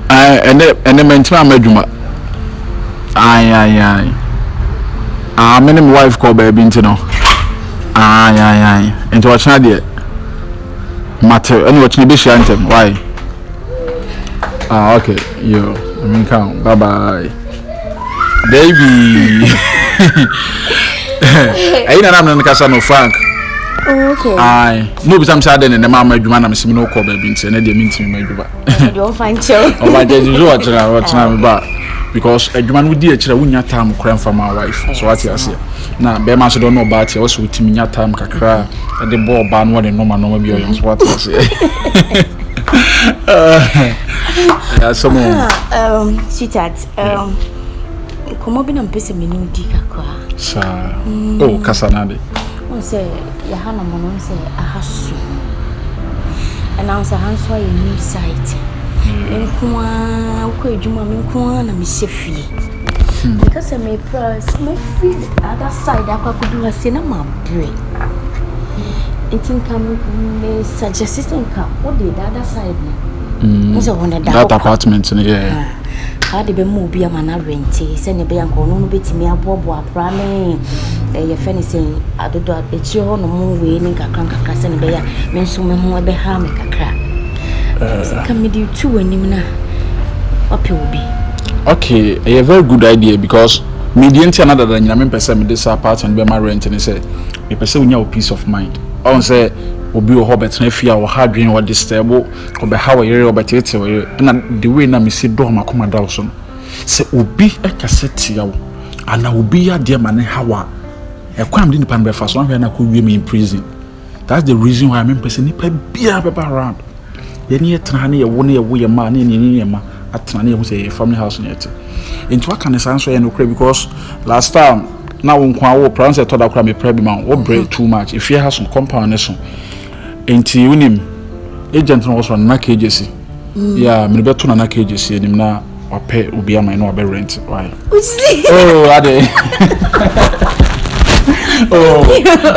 Ae ɛnɛ ɛnɛ mɛntumi ama adwuma. Ae ae ae. Ah me ne me wife kɔ baabi nti no. Ae ae ae. Nti ɔkyena deɛ. Mate ɛna ɔkyena ebi hyia ntɛm. Why? Ah okay. Yo, I mean come. Bye bye. Baby. Ayi na nam no kasa no Frank. Oh, okay. Aye. No bi sam sa den na mama adwuma na mesem no kɔ ba bi nti na de me ntimi ma adwuma. Eh, do fan chew. Oh, ba je ju otira otira me ba. Because adwuma no di akira wunya time kra mfa ma wife. So what you say? Na be ma so do no ba ti o so utimi nya time kakra de bo ba no ne no ma no ma bi o so what you say? Yeah, someone. Ah, um, sweetheart, um, nkɔmɔ bi na mpɛ sɛ mene wodi kakra. Saa. Mm. Oh, kasa na de. Wɔn sɛ yɛha na mo no sɛ aha so. Ɛnam sɛ ha nso ayɛ new site. Mm. Me nko ara wokɔ adwuma me nko ara na mehyɛ fie. Meka sɛ mepra sɛ mɛfiri the other side akɔ akɔdu ha sei na mabrɛ. Nti nka me suggest sɛ nka wode the other side no. Mm. Wo sɛ wo ne da That apartment no yɛ. Kaa de bɛma obi ama no awɛnte sɛdeɛ ɛbɛyɛ nka ɔno no bɛtumi aboaboa pra ne ɛyɛ fɛ ne sɛ adodo akyire hɔ nom wei ne nkakra nkakra sɛdeɛ ɛbɛyɛ a me nso me ho ɛbɛha me kakra. Sika mede tu w'anim na wapɛ obi. Okay, ɛyɛ very good idea because me deɛ nti ana dada nyina me mpɛ sɛ mede saa part no bɛma rent ne sɛ me pɛ sɛ wonya wo peace of mind. Ɔn sɛ obi wɔ hɔ bɛtena fie a ɔha dwen ɔ disturb ɔbɛha wo yere ɔbɛteetee wo yere ɛna the way na me si dɔ makoma da wo so no sɛ obi kasa tia wo anaa obi yɛ adeɛ ma no ha wo a ɛkwan a mede nipa no bɛfa so ahwɛ na akɔ wie me in prison. That's the reason why mempɛ sɛ nipa biara bɛba around. Yɛne yɛ tena ha ne yɛwo ne yɛwo yɛ mma ne yɛne yɛne yɛ mma atena ne yɛho sɛ yɛyɛ family house ne yɛte. Nti waka ne saa nso yɛ nokorɛ because last time na wo nko awo pra sɛ ɛtɔ da koraa mepra bi ma wo brɛ mhm. too much efie ha so compound ne so nti wonim agent no wɔ so nana kegyesi mm. yeah mene bɛto nana kegyesi anim na wapɛ obi ama ɛna wabɛ rent why oh ade oh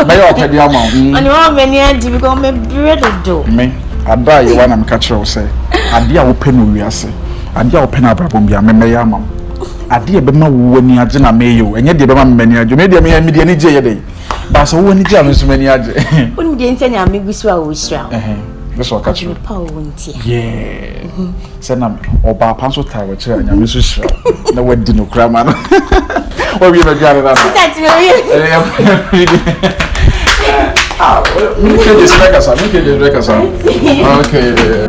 bɛyɛ ɔpɛ bi ama mm. ɔne wɔn mɛ ni agye bi kɔ mɛ bere dodo me ada a yɛwa na meka kyerɛ wo sɛ ade a wopɛ no wiase ade a wopɛ no abrabɔ bia mɛ mɛyɛ ama wo ade a ɛbɛma wo ani agye na mɛyɛ o ɛnyɛ deɛ ɛbɛma mɛ ani agye mɛ deɛ mɛ mɛ deɛ ani gye yɛ dɛ baasa wo ani gye a mɛ nso mɛ ani agye. o ni deɛ nsɛn ni ame gu so a o sira o. ɛsɛ ɔka kyerɛ. ɔtí mi pa o ntia. yɛɛ. Sɛ nam ɔbaa pa nso taa wɔkyerɛ a nyame nso hyira na wadi no kora ma no wɔwie no adwane no Mekɛde sɛ bɛkasa mekɛde sɛ bɛkasa okay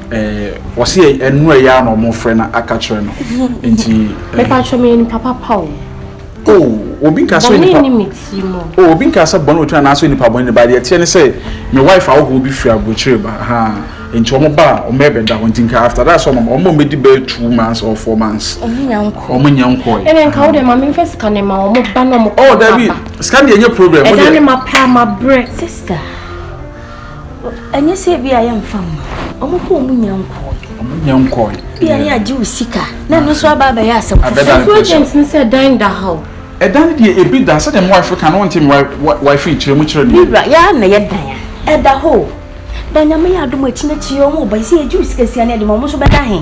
Eh, wɔsi yɛ ɛnu ɛyɛ a na wɔn frɛ na aka kyerɛ no nti. Bɛpa atwa mi yɛ nipa papa o. O oh, obi nka sɛ nipa o oh, obi nka sɛ bɔn otu anaasɛ nipa bɔn ne ba deɛ teɛ ne sɛ me wife ahohoɔ bi firi aburokyire ba ha nti wɔn ba a wɔn ɛbɛda hɔ nti nka after that sɛ wɔn wɔn bɛdi bɛyɛ two months or four months. wɔn nyɛ nkɔ wɔn nyɛ nkɔ yi. ɛnna nka wo de maame nfa sika ne ma wɔn ba na wɔn kɔ ba. ɔ dabi sika deɛ nye problem. ɛda ne ma pa ma brɛ sista. ɛnyɛ sɛ bi a yɛmfa mma ɔmo kɔ ɔmo nya nkɔɔ ɔmo nya nkɔɔ bi a ne agye wo sika na ɛno nso aba abɛyɛ asɛm foforɔ agent ne sɛ dan da ha o ɛdan no deɛ ebi da sɛdeɛ mo wife ka no wonte me wife nkyerɛ mu kyerɛ deɛ bibra yɛa na yɛ dan a ɛda hɔ o ba nyame yɛ adom akyi no akyi ɔmo ba sɛ yɛgye wo sika sia ne ɛde ma ɔmo nso bɛda he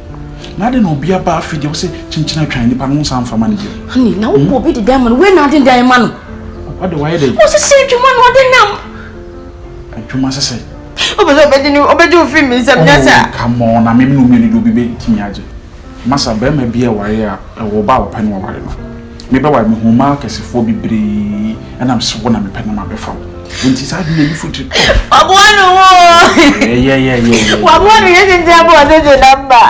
Na adi na obi aba afi deɛ ɔsɛ kyinkyin atwan nipa no nsa nfa ma no bio. Honey, na wopɔ obi de dan ma no, wei na adi dan ma no. Ɔde wayɛ dɛ. Ɔsese adwuma na ɔde nam. Adwuma sese. Ɔbɛ sɛ ɔbɛgye ne ɔbɛgye ofiri mi nsam nyɛ saa. Oh, come on, na mem no mmienu de obi bɛtumi agye. Masa, bɛrima bi a wayɛ a, ɛwɔ ɔba a ɔpɛ no waware no. Me ba wa, mehuu mmaa akɛsefoɔ bebree nam sɛ wo na mepɛ na mabɛfa wo. Nti saa adwene ani fotiri kɔ. Waboa no wo. Yɛyɛyɛyɛ. Waboa no yɛ gyegye abɔ ɔde gye namba.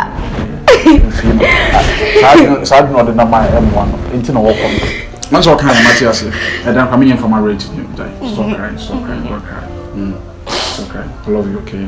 Saa adwene ɔde nam a ɛmmoa no nti na wɔkɔ no. Wɔn sɛ ɔka yɛ mate ase. Ɛdan kwa menyɛ mfama rent. Stop crying, stop crying, don't cry. Mm. Stop crying. I love you, okay?